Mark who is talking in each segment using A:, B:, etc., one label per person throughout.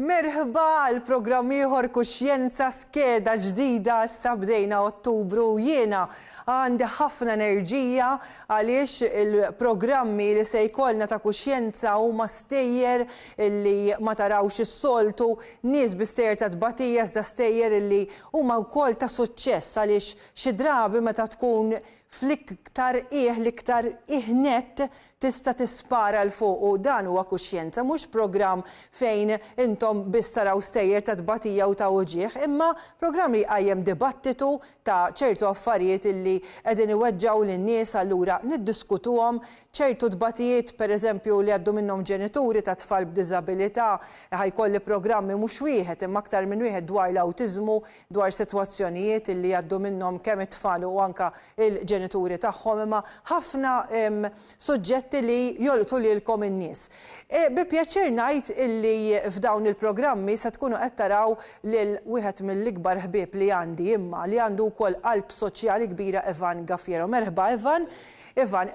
A: Merħba għal programm ieħor Kuxjenza skeda ġdida issa bdejna Ottubru u jiena għandi ħafna enerġija għaliex il-programmi li se jkollna ta' kuxjenza huma stejjer li ma tarawx is-soltu, nies bi stejjer ta' tbatija iżda stejjer li Huma wkoll ta' suċċess għaliex xi drabi meta tkun fl-iktar qiegħ, l-iktar qiegħ nett, tista' tispara 'l fuq u dan huwa kuxjenza, mhux programm fejn intom biss taraw stejjer ta' tbatija u ta' uġigħ, imma programm li jqajjem dibattitu ta' ċertu affarijiet li qegħdin iweġġgħu lin-nies allura niddiskutuhom ċertu tbatijiet, pereżempju, li jgħaddu minnhom ġenituri ta' tfal b'diżabilità, ħa jkolli programmi mhux wieħed imma aktar minn wieħed dwar l-awtiżmu, dwar sitwazzjonijiet li jgħaddu minnhom kemm it-tfal u anke l-ġenituri tagħhom, imma ħafna suġġetti li jolqtu lilkom in-nies. Bi pjaċir ngħid illi f'dawn il-programmi se tkunu qed taraw lil wieħed mill-ikbar ħbieb li għandi imma li għandu wkoll qalb soċjali kbira Evan Gaffiero. Merħba Evan. Ivan,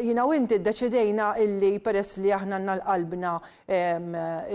A: jiena u inti ddeċidejna illi peress li aħna għandna l-qalbna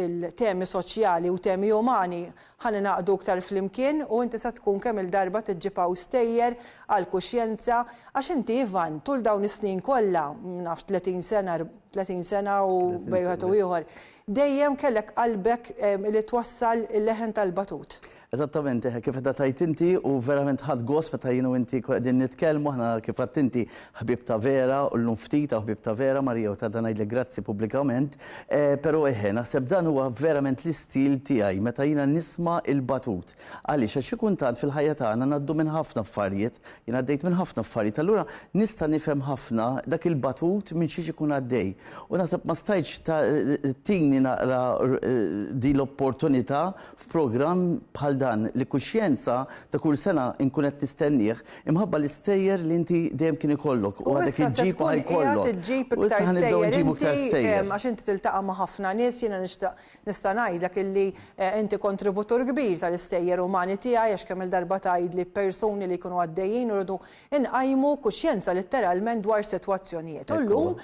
A: il-temi soċjali u temi umani, ħa ningħaqdu iktar flimkien u inti se tkun kemm il-darba tiġġib hawn stejjer għall-kuxjenza għax inti Ivan tul dawn is-snin kollha, ma nafx tletin sena, tletin sena u bejn wieħed u ieħor, dejjem kellek qalbek li twassal il-leħen tal-batut. Eżattament,
B: kif qed tgħid inti u verament ħadt gost meta jien u inti qegħdin nitkellmu, aħna kif għedt inti ħbieb ta' vera u llum ftit hawn ħbieb ta' vera, Maria u tant ngħidlek grazzi pubblikament. Però eħe, naħseb dan huwa verament l-istil tiegħi meta jiena nisma' il-batut. Għaliex? Għax xi kuntant fil-ħajja tagħna ngħaddu minn ħafna affarijiet, jien għaddejt minn ħafna affarijiet, allura nista' nifhem ħafna dak il-batut minn xiex ikun għaddej. U naħseb ma stajtx tini naqra din l-opportunità f'programm bħal dan li kuxjenza ta' kull sena nkun qed nistennih imħabba l-istejjer li inti dejjem kien ikollok u għadek iġġib u ħajkollok. U issa ħa nibdew inġibu iktar stejjer. Għax inti tiltaqa' ma'
A: ħafna nies jiena nixtaq nista' ngħidlek illi inti kontributur kbir tal-istejjer umani tiegħi għax kemm-il darba tgħidli persuni li jkunu għaddejjin u rridu nqajmu kuxjenza litteralment dwar sitwazzjonijiet. U llum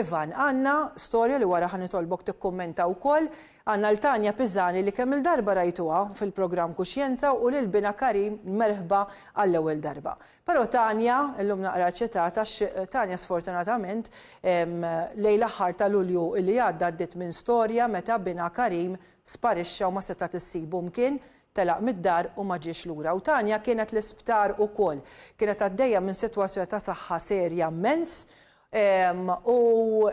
A: Ivan għandna storja li wara ħa nitolbok tikkummenta wkoll Għandna 'l Tania Pisani li kemm-il darba rajtuha fil-programm Kuxjenza u lil binha Karim merħba għall-ewwel darba. Però Tania, illum naqra eċċitata għax Tania sfortunatament lejl aħħar ta' Lulju li għadda għaddiet minn storja meta binha Karim sparixxa u ma setgħet issibu mkien, telaq mid-dar u ma ġiex lura. U Tania kienet l-isptar ukoll. Kienet għaddejja minn sitwazzjoni ta' saħħa serja mmens u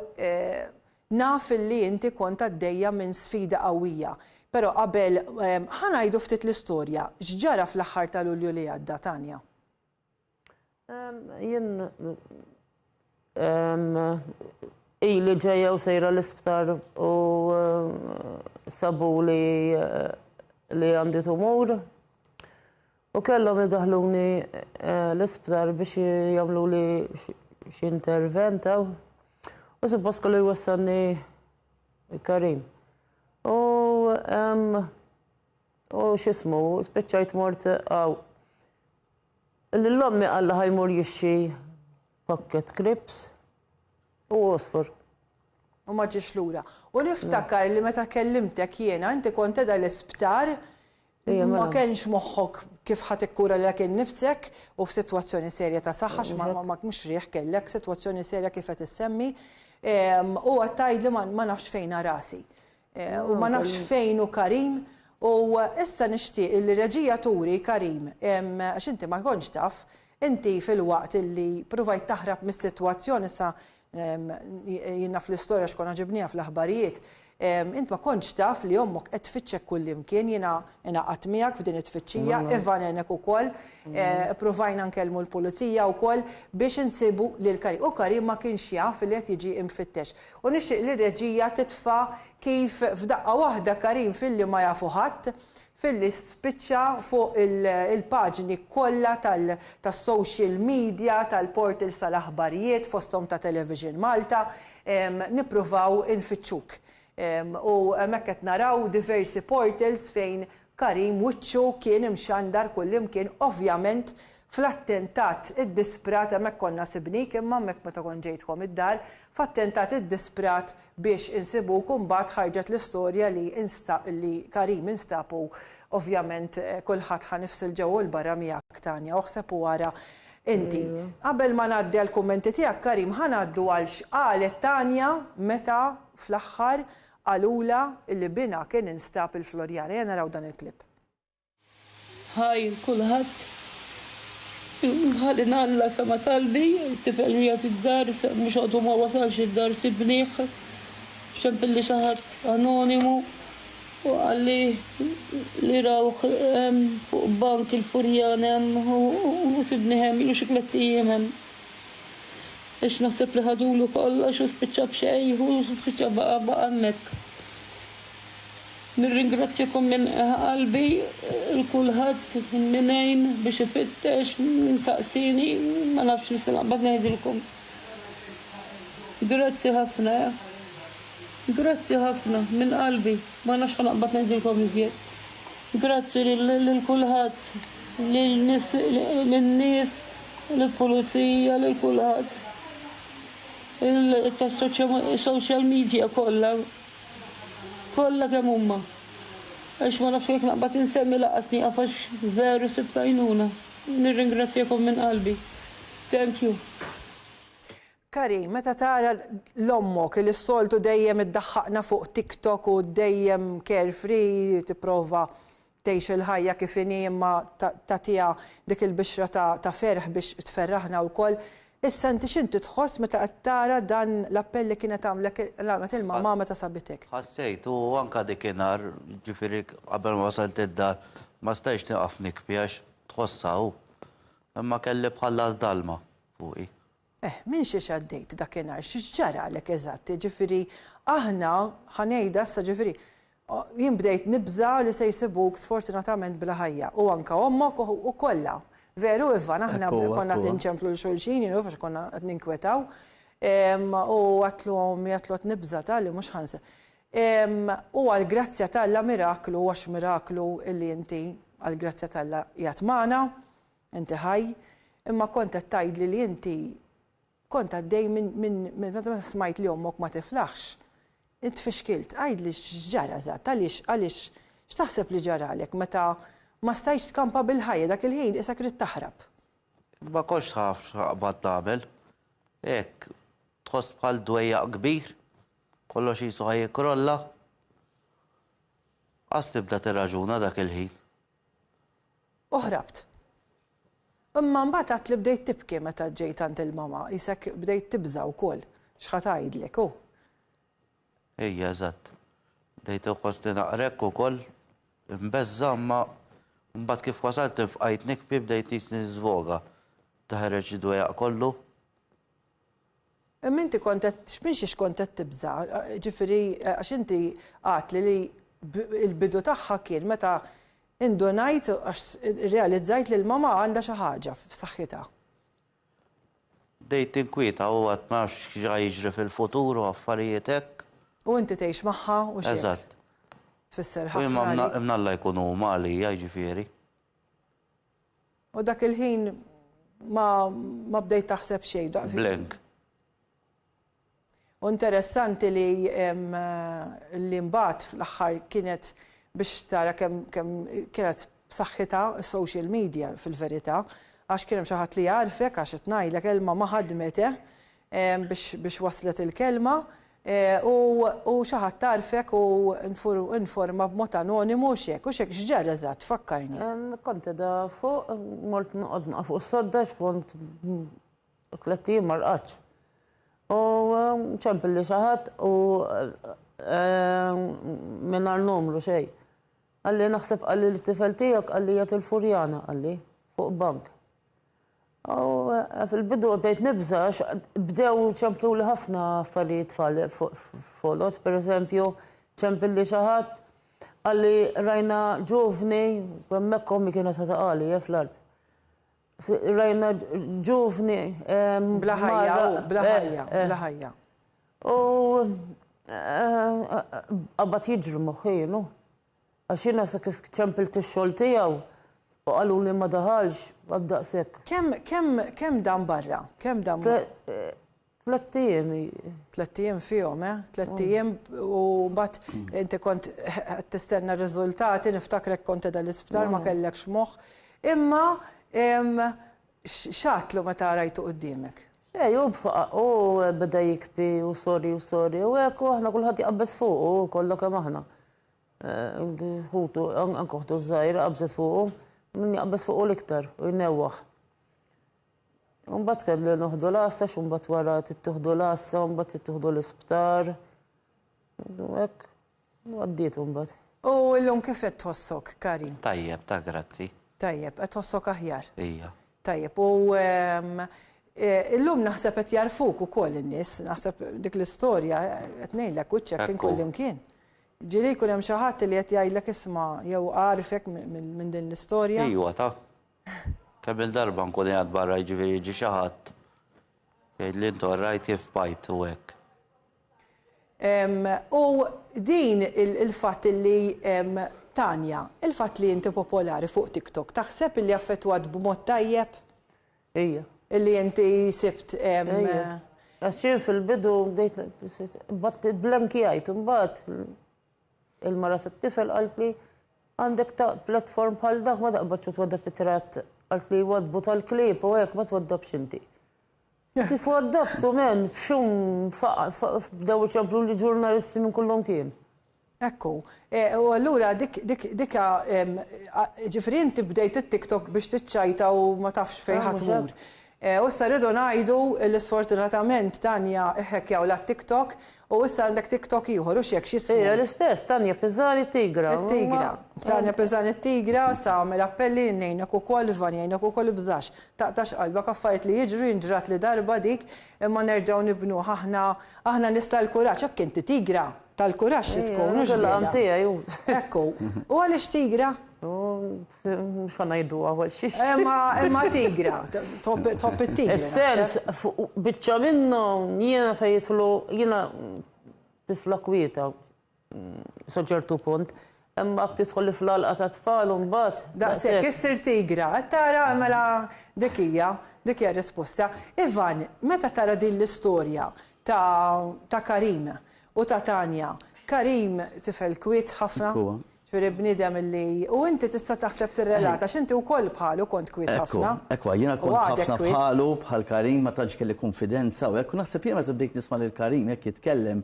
A: Naf li inti kont għaddejja minn sfida qawwija, però qabel ħa ngħidu ftit l-istorja, x'ġara fl-aħħar ta' Lulju li għadda, Tania?
C: Jien ili ġejja u sejra l-isptar u sabuli li għandi tumur. U kellhom idaħħluni l-isptar biex jagħmluli xi intervent hawn. U suppost kellu jwassalni Karim. U u x'ismu, spiċċajt mort hawn. Lil ommi qalla ħajmur jixxi pakket krips. U għosfur. U ma
A: ġiex lura. U niftakar li meta kellimtek jiena, inti kont qiegħda l-isptar, ma kenx moħħok kif ħa tikkura lilek innifsek u f'sitwazzjoni serja ta' saħħa għax ma mhux riħ kellek, sitwazzjoni serja kif qed issemmi. U għedt tgħidli ma nafx fejn ha rasi. U ma nafx fejn hu Karim. U issa nixtieq illi reġija turi Karim, għax inti ma kontx taf, inti filwaqt illi pruvajt taħrab mis-sitwazzjoni sa jien naf l-istorja għax konna ġibnieha fl-aħbarijiet, int ma kontx taf li ommok qed tfittxek kullimkien, jiena ingħaqadt miegħek f'din it-tfittxija, Ivan għenek ukoll, ippruvajna nkellmu l-pulizija wkoll biex insibu lil Karim. U Karim ma kienx jaf li qed jiġi mfittex. U nixtieq li r-reġija titfa' kif f'daqqa waħda Karim Filli ma jafu ħadd, Filli spiċċa fuq il-paġni kollha tas-social media, tal-portals tal-aħbarijiet, fosthom ta' Television Malta, nippruvaw infittxuk. U hemmhekk qed naraw diversi portals fejn Karim wiċċu kien imxandar kullimkien ovvjament fl-attentat iddisprat, hemmhekk konna sibnik imma hemmhekk meta kont ġejtkom id-dar, f'attentat iddisprat biex insibuk u mbagħad ħarġet l-istorja li li Karim instab u ovvjament kulħadd ħa nifs il-ġewwa u l-barra miegħek Tanya oħseb u ara inti. Qabel ma ngħaddi għall-kummenti tiegħek Karim ħa ngħaddu għal x'qalet Tanya meta fl-aħħar Qalulha li binha kien instab il-Floriana. Ejja naraw dan il-clip.
D: Hi kulħadd. Ħalli ngħalla sema' talbi, it-tifel qiegħed id-dar, mhux għadu ma wasalx id-dar sibnih, x'hemmilli xi ħadd anonimu u qalli li rawh hemm fuq bank il-furjan hemm u sibnih hemm ilu xi tlett ijiem hemm. Għax naħseb li ħadulu kollox u spiċċa b'xejn, hu spiċċa baqa' baqa' hemmhekk. Nirringrazzjakom minn qalbi 'l kulħadd min għin biex ifittex, min saqsieni, ma nafx nista' naqbad ngħidilkom. Grazzi ħafna, grazzi ħafna minn qalbi, ma nafx ħa naqbad ngħidilkom iżjed. Grazzi lil kulħadd, lin-nies, lill-pulizija, lil kulħadd, tas-social media kollha, kollha kemm huma. Għax ma nafx jekk naqbad insemmi lanqas nieqaf għax veru sibt għajnuna. Nirringrazzjakom minn qalbi. Thank you.
A: Kari, meta tara l ommok li s-soltu dejjem iddaħħaqna fuq TikTok u dejjem carefree tipprova tgħix il-ħajja kif inhi imma tagħtiha dik il-bixra ta' ferħ biex tferraħna wkoll, issa inti x'inti tħoss meta qed tara dan l-appell li kienet għamlek għamlet il-mamma meta sabitek? Ħassejt u anke
E: dik inhar, jiġifieri qabel ma wasalt id-dar, ma stajtx nieqaf nikbi għax tħossha hu. Imma kelli bħal dalma fuqi. Eh, minn xiex
A: għaddejt dakinhar, xiex ġaralek eżatt, jiġifieri aħna, ħa ngħidha issa ġifieri, jien bdejt nibża' li se jsibuk sfortunatament bla ħajja, u anke ommok u kollha. Veru Ivan, aħna konna qed inċemplu 'l xulxin, you know, għax konna qed ninkwetaw. U għadtlu ommi, għadtlu qed nibża' ta' li mhux ħa U għall-grazzja t'Alla miraklu, għax miraklu li inti għall-grazzja t'Alla qiegħed magħna. Inti ħaj, imma kont qed tgħidli li inti kont għaddej minn, minn, minn, meta smajt li ommok ma tiflaħx. Int tfixkilt. Għidli x'ġara eżatt, għaliex, għaliex, x'taħseb li ġaralek meta ma stajtx tkampa bil-ħajja, dak il-ħin qisek ridt taħrab. Ma kontx
E: naf x'naqbad nagħmel. Hekk, tħoss bħal dwejjaq kbir, kollox qisu ħa jikkrolla. Qas tibda tirraġuna dak il-ħin. U ħrabt.
A: Imma mbagħad għadt li bdejt tibki meta ġejt għand il-mama, qisek bdejt tibża' wkoll x'ħa tgħidlek, hu.
E: Ejja, eżatt. Bdejt inħossni naqra hekk ukoll, imbeżża' imma mbagħad kif wasalt infqajt nikbi bdejt nqisni niżvoga. Teħreġ id-dwejjaq kollu.
A: Imma inti kont qed, minn xiex kont qed tibża'? Jiġifieri, għax inti għedtli li l-bidu tagħha kien meta indunajt, għax irrealizzajt li l-mamà għandha xi ħaġa f'saħħitha.
E: Bdejt ninkwieta u għad ma nafx x'ġa jiġri fil-futur u affarijiet hekk. U inti tgħix
A: magħha u x'hekk. Eżatt.
E: Tfisser
A: ħafna. U imma
E: mnalla jkun
A: huma
E: għalija, jiġifieri.
A: U dak il-ħin ma, ma bdejt taħseb xejn daqs. Blank. U interessanti li li mbagħad fl-aħħar kienet biex tara kemm kemm kienet b'saħħitha s-social media fil-verità għax kien hemm xi ħadd li jagħrfek għax qed ngħidlek Elma ma ħadmet eh, biex waslet il-kelma u xi ħadd għarfek u informa b'mod anonimu u x'hekk u x'hekk x'ġara eżatt fakkarni. Kont qiegħda
C: fuq mort noqgħod naqa' fuq is-sodda x'kont tliet ijiem ma rqadtx. U ċempilli xi ħadd u mingħajr numru xejn. Qalli naħseb qalli t-tifel tiegħek qalli qiegħed il-Furjana qalli fuq bank. U fil-bidu bdejt nibża' għax bdew ċempluli ħafna affarijiet foloz, pereżempju ċempilli xi ħadd qalli rajna ġuvni, hemmhekk ommi kienet ħa taqali eh fl-art. Rajna ġuvni Bla ħajja,
A: bla ħajja, bla ħajja.
C: U qabad jiġri moħħi, you know. Għax jiena sa kif ċempilt ix-xogħol tiegħu u qaluli ma daħalx, għad daqshekk. Kemm, kemm, kemm
A: dam barra? Kemm dam? Tlett
C: ijiem. Tlett ijiem
A: fihom, eh? Tlett ijiem u mbagħad inti kont qed tistenna r-riżultati, niftakrek kont qiegħda l-isptar ma kellekx moħħ. Imma x'għadtlu meta rajtu quddiemek? Xejn, hu b'faqaq,
C: hu beda jikbi u sorry u sorry u hekk u aħna kulħadd jqabbeż fuqu, kollha kemm aħna. Ħutu, anke ħutu żgħira qabżet fuqu, min jaqbeż fuqu l-iktar u jnewwaħ. Mbagħad kelli noħdu l-għassa, xi mbagħad wara tittuħdu l-għassa, mbagħad tittuħdu l-isptar. Hekk, għaddiet mbagħad. U llum kif
A: qed tħossok, Kari? Tajjeb, ta' grazzi.
E: Tajjeb, qed tħossok
A: aħjar? Ija. Tajjeb,
E: u
A: illum naħseb qed jagħrfuk ukoll in-nies, naħseb dik l-istorja qed ngħidlek wiċċek kien kullimkien. Ġieli jkun hemm xi ħadd li qed jgħidlek isma' jew għarifek minn din l-istorja. Iwa ta.
E: Kemm-il darba nkun qiegħed barra jiġifieri jiġi xi ħadd jgħidli inti orajt kif bajt u hekk.
A: U din il-fatt li Tanya, il-fatt li inti popolari fuq TikTok taħseb illi affettwat b'mod tajjeb? Ija.
C: Illi inti
A: sibt Ija.
C: Għax jien fil-bidu bdejt bad blankjajt imbagħad il-mara tat-tifel qaltli għandek ta' platform bħal dak ma taqbadx u twaddab it-tratt qaltli jwaddbu tal-klieb u hekk ma twaddabx inti. Kif hu adaptu, men, f'xum f'aqaf, bdew iċemplu li ġurnalisti minn kull imkien. Ekku.
A: U allura dik, dik, dik ha, ġifieri inti bdejt it-TikTok biex tiċċajta u ma tafx fejn ħa tmur. U issa rridu ngħidu li sfortunatament Tanja hhekkjawlha t-TikTok U issa għandek TikTok ieħor, u x'hekk x'jismu? Hija l-istess, Tanya
C: Pisani Tigra. It-Tigra.
A: Tanya Pisani Tigra, sa għamel appelli jien ngħinek ukoll, Ivan jgħinek ukoll ibżax, taqtax qalbek affarijiet li jiġru jien ġratli darba dik imma nerġgħu nibnuha aħna aħna nies tal-kuraġġ, hekk inti Tigra, tal-kuraġġ trid tkun, hux vera? Hija l-laqam tiegħi hu. Hekk hu. U għaliex Tigra?
C: Mhux ħa ngħiduha għal xiex. Imma imma tigra,
A: top top it-tigra. Is-sens
C: biċċa minnhom jiena fejn jidħlu jiena tifla kwieta sa ċertu punt. Imma tidħol fl-għalqa ta' tfal u mbagħad. Daqshekk issir
A: tigra, qed tara mela dik hija, dik hija risposta. Ivan, meta tara din l-istorja ta' Karim u ta' Tanya, Karim tifel kwiet ħafna. Jiġifieri bniedem li, u inti tista' taħseb tirrelata għax inti wkoll bħalu kont kwiet ħafna. Ekku, ekku, jiena kont
B: ħafna bħalu, bħal Karim, ma tantx kelli kunfidenza u hekk, u naħseb jiena meta bdejt nisma' lil Karim hekk jitkellem,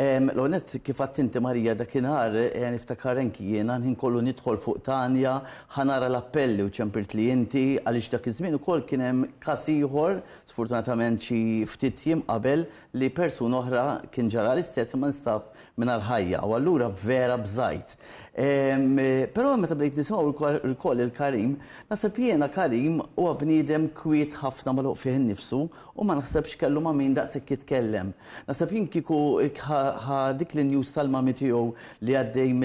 B: l-ewwel nett kif għedt inti Marija dakinhar niftakar anki jiena l-ħin kollu nidħol fuq Tanya ħa nara l-appelli u ċempirtli inti għaliex dak iż-żmien ukoll kien hemm każ ieħor, sfortunatament xi ftit jiem qabel, li persuna oħra kien ġaralha l-istess imma nstab mingħajr ħajja u allura vera bżajt. Però meta bdejt nisimgħu wkoll il-Karim, naħseb jiena Karim huwa bniedem kwiet ħafna magħluq fih innifsu u ma naħsebx kellu ma' min daqshekk jitkellem. Naħseb jien kieku ħa dik l-injus tal-mami tiegħu li għaddej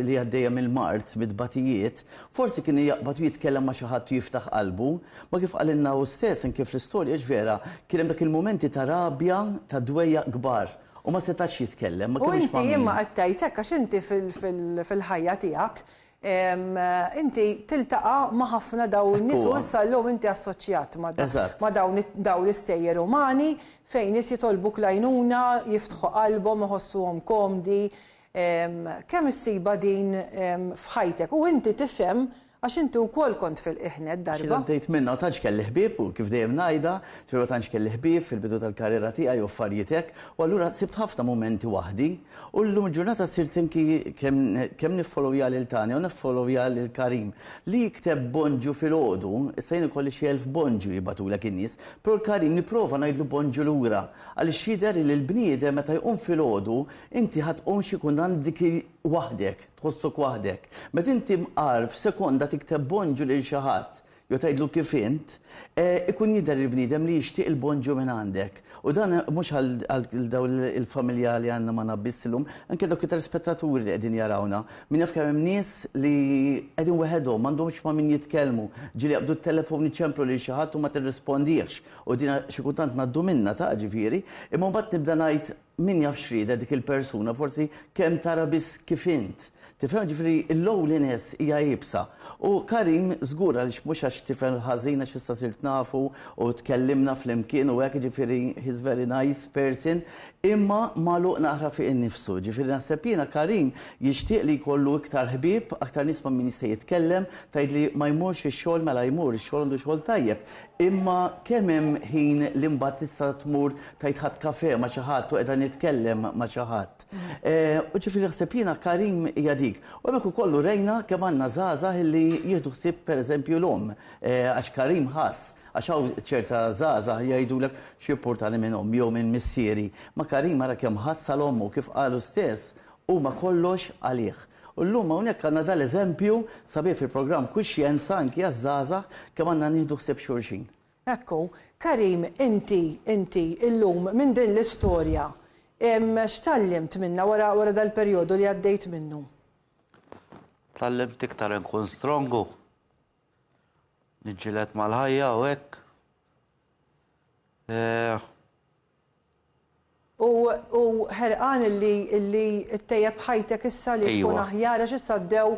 B: li għaddejja mill-mard, mit-tbatijiet, forsi kien jaqbad u jitkellem ma' xi ħadd u jiftaħ qalbu. Ma kif qalilna hu stess anke fl-istorja hiex vera, kien hemm dak il-mumenti ta' rabja, ta' dwejjaq kbar u ma setax jitkellem, ma kellux ma' min. U inti, imma qed
A: tgħid hekk għax inti fil-ħajja tiegħek inti tiltaqa' ma' ħafna dawn in-nies u issa llum inti assoċjat ma' dawn l-istejjer umani fejn nies jitolbuk l-għajnuna, jiftħu qalbhom, iħossuhom komdi. Kemm issibha din f'ħajtek u inti tifhem Għax inti wkoll kont fil-qiegħnet darba. Xi l-għaddejt minnha u tantx kelli
B: ħbieb u kif dejjem ngħidha, ġifieri ma tantx kelli ħbieb fil-bidu tal-karriera tiegħi u affarijiet hekk u allura sibt ħafna mumenti waħdi u llum il-ġurnata sirt anki kemm kemm niffolowja lil Tania u niffolowja lil Karim li jikteb Bonġu filgħodu, issa jien ikolli xi elf Bonġu jibgħatulek in-nies, però l-Karim nipprova ngħidlu Bonġu lura għaliex jidher li l-bniedem meta jqum filgħodu inti ħa tqum xi jkun għandek waħdek. Tħossok waħdek. Meta inti mqar f'sekonda tikteb bonġu lil xi ħadd jew tgħidlu kif int, ikun jidher il-bniedem li jixtieq il-bonġu minn għandek. U dan mhux għal dawn il-familja li għandna magħna biss illum, anke dawk it-telespettaturi li qegħdin jarawna. Min jaf kemm hemm nies li qegħdin weħedhom, m'għandhomx ma' min jitkellmu, ġieli jaqbdu t-telefon iċemplu lil xi ħadd u ma tirrispondihx. U din xi kultant ngħaddu minnha, taf, ġifieri. Imma mbagħad nibda ngħid, Min jaf x'ridet dik il-persuna, forsi kemm tara biss kif int. Tifhem? Jiġifieri l-lowliness hija iebsa. U Karim żgur għaliex mhux għax tifel ħażin għax issa sirt nafu u tkellimna flimkien u hekk jiġifieri he's very nice person imma magħluq naqra fih innifsu. Jiġifieri naħseb jiena Karim jixtieq li jkollu iktar ħbieb, aktar nies ma' min jista' jitkellem, tgħidli ma jmurx ix-xogħol mela jmur, ix-xogħol għandu xogħol tajjeb. Imma kemm hemm ħin li mbagħad tista' tmur tgħid ħadt kafè ma' xi ħadd u qiegħda nitkellem ma' xi ħadd. U ġifieri naħseb jiena Karim hija dik. U hemmhekk ukoll urejna kemm għandna żgħażagħ illi jieħdu ħsieb pereżempju l-omm. Għax Karim ħass, għax hawn ċerta żgħażagħ jgħidulek x'jimpurtani minn ommi jew minn missieri. Ma' Karim ara kemm ħass għal ommu, kif qal hu stess, Huma kollox għalih. U llum hawnhekk għandna dan l-eżempju sabiħ fil-programm Kwixjenza anki għaż-żgħażagħ kemm għandna nieħdu ħsieb xulxin. Ekku,
A: Karim, inti, inti, illum, minn din l-istorja, x'tgħallimt minnha wara, wara dal-perjodu li għaddejt minnu?
E: Tgħallimt iktar inkun strongu. Niġġieled mal-ħajja u hekk.
A: U u ħerqan illi illi ttejjeb ħajtek issa li tkun Ejwa. aħjar għax issa għaddew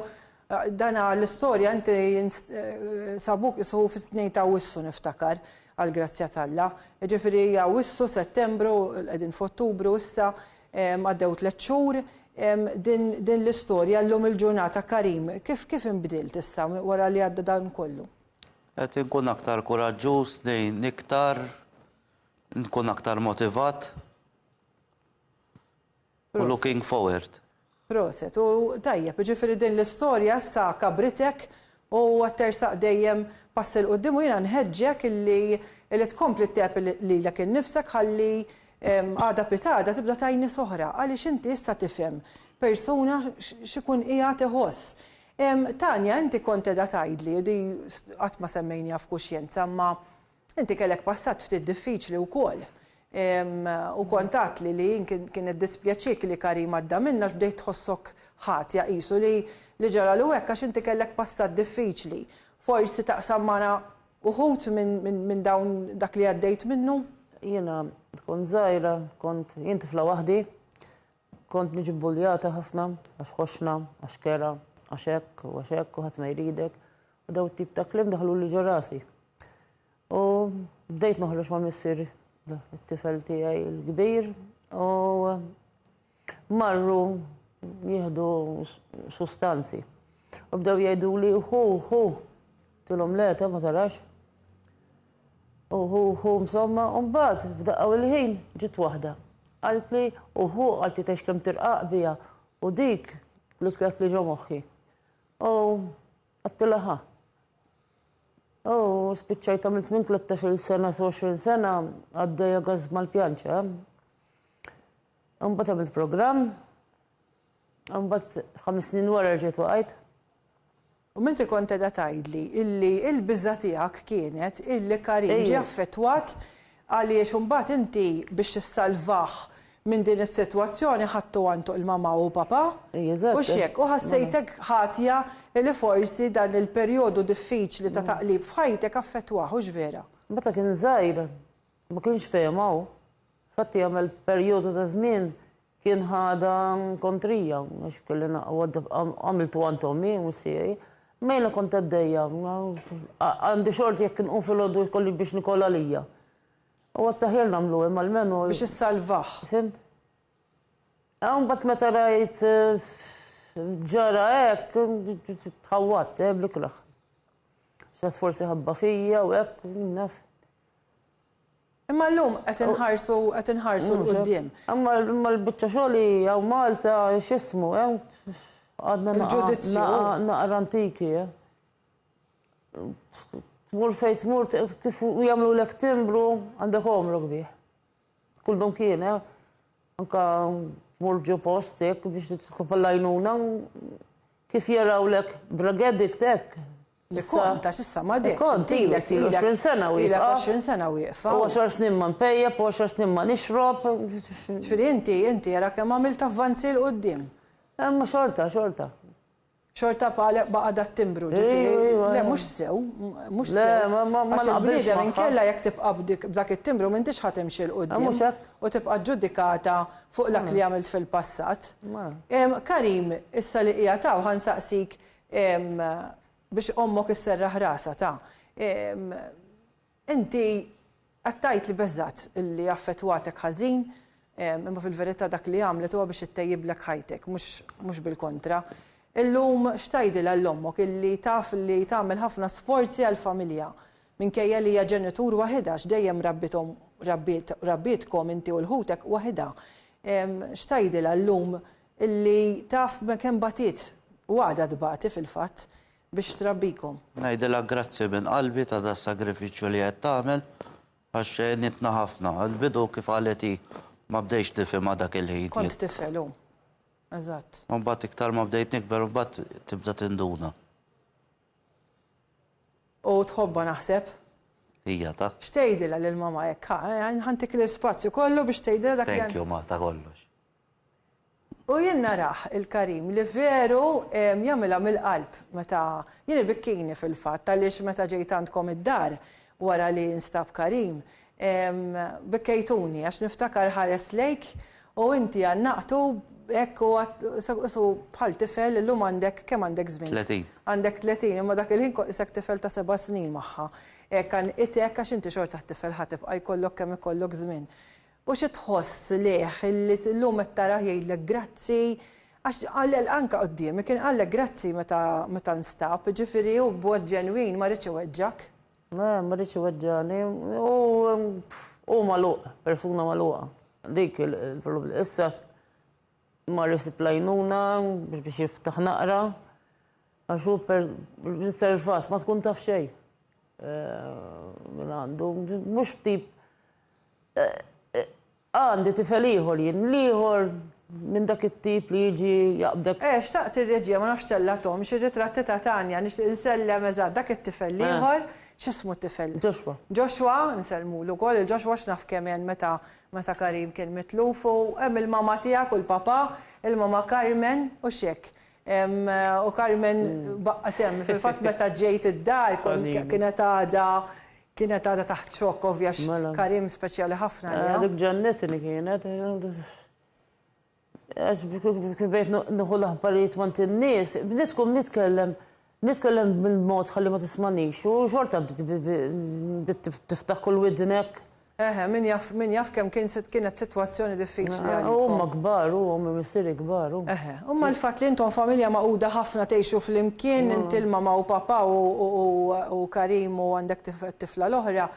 A: dana l-istorja inti sabuk qisu fi tnejn ta' Awwissu niftakar għall-grazzja t'Alla. Jiġifieri Awwissu, Settembru, qegħdin f'Ottubru issa, għaddew tliet xhur, din din l-istorja llum il-ġurnata Karim kif kif inbdilt issa wara li għadda dan kollu? Qed inkun
E: aktar kuraġġuż, ngħin iktar, Nkun aktar motivat u looking forward. Proset. U
A: tajjeb, jiġifieri din l-istorja issa kabritek u qed tersaq dejjem pass 'il quddiem u jiena nħeġġek illi illi tkompli tgħeb lilek innifsek ħalli għada pitgħada tibda tgħin nies oħra għaliex inti issa tifhem persuna x'ikun qiegħed iħoss. Tania inti kont qiegħda tgħidli, di qatt ma semmejniha f'kuxjenza imma Inti kellek passat ftit diffiċli wkoll u kont għedtli li kien iddispjaċik li Karim għadda minn għax bdejt tħossok ħatja qisu li ġaralu hekk għax inti kellek passat diffiċli. Forsi taqsam magħna uħud minn dawn dak li għaddejt minnu? Jiena
C: kont żgħira kont jien tifla waħdi, kont niġi bbuljata ħafna għax ħoxna, għax kera, għax hekk u għax hekk u ħadd ma jridek Daw tip ta' klim daħlu li ġo rasi. U bdejt noħroġ ma' missir it-tifel tiegħi l-kbir u marru jieħdu sustanzi. U bdew jgħidu li hu hu tilhom le ta' ma tarax. U hu hu msomma u mbagħad f'daqqa il-ħin ġiet waħda. Qalt li u hu qalt li tex kemm tirqaq bija u dik li tlef li ġo moħħi. U għattila ħa. U spiċċajt għamilt minn 13 sena s 20 sena għaddejja għazz mal-pjanċa. Mbagħad għamilt programm, mbagħad ħames snin wara rġiet waqajt. U
A: minti kont edha tajdli illi il-biża tiegħek kienet illi Karim ġie affettwat Għaliex imbagħad inti biex tissalvah minn din is-sitwazzjoni ħadtu għantuq il-mamà u papà? Hux hekk? U ħassejtek ħatja li forsi dan il-perjodu diffiċli ta' taqlib f'ħajtek affettwah, hux vera? Meta kien żgħir
C: ma kienx fehimha hu. Infatti għamel perjodu ta' żmien Kien ħadha kontrija għax kelli naqgħod għamiltu għand ommi u missieri. Mejla kont għaddejja, għandi xort jekk inqum filgħodu jkolli biex nikol għalija. U għattaħjar nagħmlu hemm għalmenu. Biex issalvah.
A: Fimt?
C: Hawn bat meta rajt ġara hekk tħawwat, eh, blikraħ. Xas forsi ħabba fija u hekk, naf.
A: Imma llum qed inħarsu qed inħarsu 'l quddiem. Imma imma l-biċċa
C: xogħol hi hawn Malta x'ismu hemm għadna naqra naqra antiki. Tmur fejn tmur kif jagħmlulek timbru għandek għomrok bih. Kull dum kien eh. Anka tmur ġo post hekk biex titlob l-għajnuna kif jarawlek drug addict hekk.
A: L-kont għax issa ma dehx. Il-kont ilek
C: ilu 20 sena wieqfa. Ilek 20 sena
A: wieqfa. U 10 snin ma
C: npejjep u 10 snin ma nixrob. Ġifieri inti,
A: inti ara kemm għamilt avvanzi 'l quddiem. Imma xorta,
C: xorta.
A: Xorta baqa' dat-timbru, ġifieri. Le mhux sew, mhux sew. Le, ma naqbilx magħha. Għax
C: il-bniedem inkella jekk tibqa'
A: b'dak it-timbru m'intix ħa timxi 'l quddiem. Mhux hekk. U tibqa'
C: ġġudikata
A: fuq dak li għamilt fil-passat. Karim, issa li qiegħed hawn ħa nsaqsik Biex ommok isserraħ rasha ta. Inti qed tgħid li beżgħet li affettwatek ħażin, imma fil-verità dak li għamlet huwa biex ittejjiblek ħajtek, mhux bil-kontra. Illum x'tgħidilha 'l ommok illi taf li tagħmel ħafna sforzi għall-familja, minkejja li hija ġenitur waħidha għax dejjem rabbiethom rabbietkom inti u l-ħutek waħidha. X'tgħidilha llum Illi taf b'hekk kemm bagħtiet, u għadha tbati fil-fatt, biex trabbikom. Ngħidilha grazzi
E: minn qalbi ta' das-sagrifiċċju li qed tagħmel, għax għenitna ħafna. Għall-bidu, kif qalet hi, ma bdejtx nifhimha dak il-ħin. Kont tifel, hu.
A: Eżatt. U mbagħad iktar ma
E: bdejt nikber, imbagħad tibda tinduna.
A: U tħobbha naħseb? Hija ta.
E: X'tgħidilha lil mamma
A: hekk, ħa? Ħa ntik l-ispazju kollu biex tgħidilha dak li. Thank you, ma, ta' kollox. U jien narah, il-Karim, li veru jagħmilha mill-qalb meta, jien ibikkini fil-fatt għaliex meta ġejt għandkom id-dar wara li nstab Karim, bikkejtuni għax niftakar ħares lejk u inti għannaqtu hekk u għad isu bħal tifel, illum għandek, kemm għandek żmien? Tletin. Għandek tletin, imma dak il-ħin kont qisek tifel ta' seba' snin magħha. Hekk għannqitek għax inti xorta tifel ħa tibqa' jkollok kemm ikollok żmien. U xi tħoss lejh illi llum qed tarah jgħidlek grazzi? Għax qallel anke quddiemi, kien qallek grazzi meta meta nstab, jiġifieri hu b'mod ġenwin ma riedx iweġġgħek. Le, ma riedx
C: iweġġagħni. Hu hu magħluq, persuna magħluqa. Dik il-problema. Issa mar isib l-għajnuna biex jiftaħ naqra għax hu riservat, ma tkun taf xejn minn għandu. Mhux tip Għandi tifel ieħor jien, l-ieħor minn dak it-tip li jiġi jaqbdek. Eh, xtaqt ir-reġija, ma
A: nafx ttellagħthomx, ir-ritratti ta' Tanya, nixtieq insellem, eżatt, dak it-tifel l-ieħor, x'ismu t-tifel? Joshua. Joshua, nsellmulu wkoll lil Joshua, x'naf kemm għen meta, meta Karim kien mitluf, u hemm il-mamà tiegħek u l-papà, il-mamà Carmen, u x'hekk. U Carmen baqgħet hemm, fil-fatt meta ġejt id-dar, kienet għadha, Kienet għadha taħt xokk ovvja għax Karim speċjali ħafna għaliha. Dik ġennitni
C: kienet. Għax kif bejt nieħu l-aħbarijiet mant in-nies, bdiet tkun nitkellem nitkellem bil-mod ħalli ma tismanix u xorta bdiet tiftaħ kull widnek. Eħe, min jaf,
A: min jaf kemm kienet sitwazzjoni diffiċli. Huma kbar,
C: huma missieri kbar. Eħe. Imma l-fatt li
A: intom familja magħquda ħafna tgħixu flimkien, inti l-mamà u papà u Karim u għandek t-tifla l-oħra,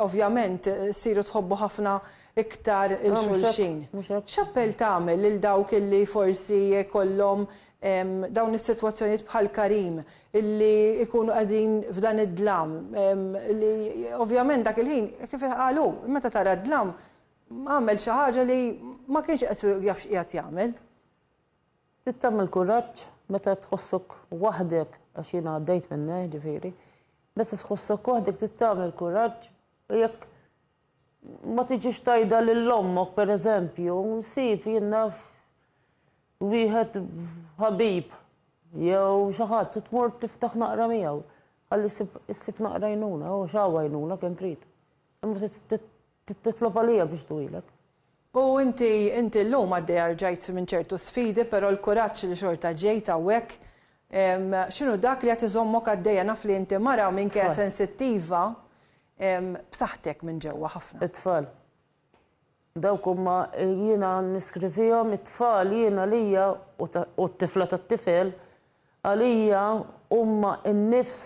A: ovvjament ssiru tħobbu ħafna iktar 'il xulxin. X'appell tagħmel lil dawk li forsi jkollhom dawn is-sitwazzjonijiet bħal Karim, li jkunu qegħdin f'dan id-dlam, li ovvjament dak il-ħin, kif qal hu, meta tara d-dlam, Għamel xi ħaġa li ma kienx qed jaf x'qiegħed jagħmel.
C: Trid tagħmel kuraġġ meta tħossok waħdek, għax jiena għaddejt minn hekk ġifieri, meta tħossok waħdek trid tagħmel kuraġġ u jekk ma tiġix tajda lil ommok pereżempju, nsib jien naf wieħed ħabib jew xi ħadd tmur tiftaħ naqra miegħu ħalli ssib naqra jnuna, u x'għawa jnuna kemm trid. Titlob għalija biex tduwilek. U inti,
A: inti llum għaddej arġajt minn ċertu sfidi, però l-kuraġġ li xorta ġejt hawnhekk, x'inhu dak li qed iżommok għaddejja? Naf li inti mara minkejja sensittiva, b'saħħtek minn ġewwa ħafna. It-tfal.
C: Dawk huma, jiena niskrivihom it-tfal jien għalija u t-tifla tat-tifel għalija huma n-nifs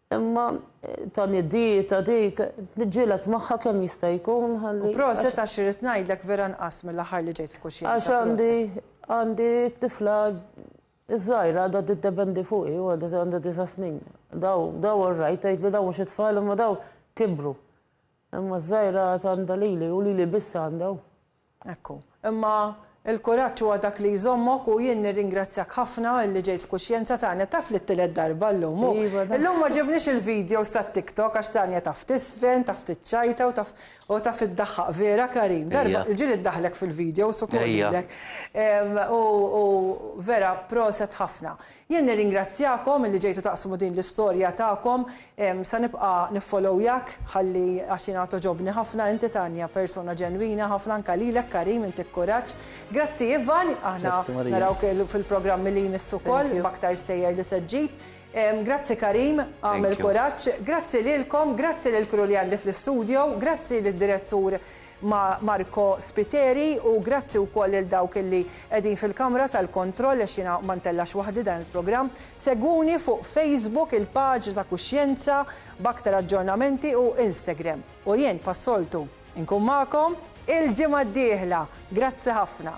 C: Imma tani dieta dik, niġġieled magħha kemm jista' jkun ħalli. U proset għax irrid
A: ngħidlek vera nqas mill-aħħar li ġejt f'kuxjenza. Għax għandi
C: għandi tifla żgħira għadha tiddependi fuqi u għadha għandha disa' snin. Daw daw orrajt tgħidli daw mhux it-tfal imma daw kibru. Imma ż-żgħira għad għandha lili u lili biss għandha u. Hekk hu.
A: Imma l-kuraġġ huwa dak li jżommok u jien nirringrazzjak ħafna li ġejt f'kuxjenza Tania, taf li t-tielet darba llum u llum ma ġibniex il-videos tat-TikTok għax Tania taf tiżfen, taf tiċċajta u taf u taf iddaħħaq vera Karim, darba l-ġieli ddaħħlek fil-videos u koll lilek. U vera proset ħafna. Jien nirringrazzjakom illi ġejtu taqsmu din l-istorja tagħkom. Se nibqa' niffollowyjak ħalli għax jiena togħġobni ħafna inti Tania persuna ġenwina ħafna anke lilek Karim intik kuraġġ. Grazzi Ivan aħna narawk fil-programmi li jmissu wkoll b'aktar stejjer li se ġġib. Grazzi Karim għamel kuraġġ. Grazzi lilkom, grazzi lill-crew li għandi fl-istudio, grazzi lid-direttur ma' Marco Spiteri u grazzi wkoll lil dawk illi qegħdin fil-kamra tal-kontroll għax jiena ma ntellgħax waħdi dan il-programm. Segwuni fuq Facebook il-paġna ta' Kuxjenza b'aktar aġġornamenti u Instagram. U jien pas-soltu nkun magħkom il-ġimgħa d-dieħla. Grazzi ħafna.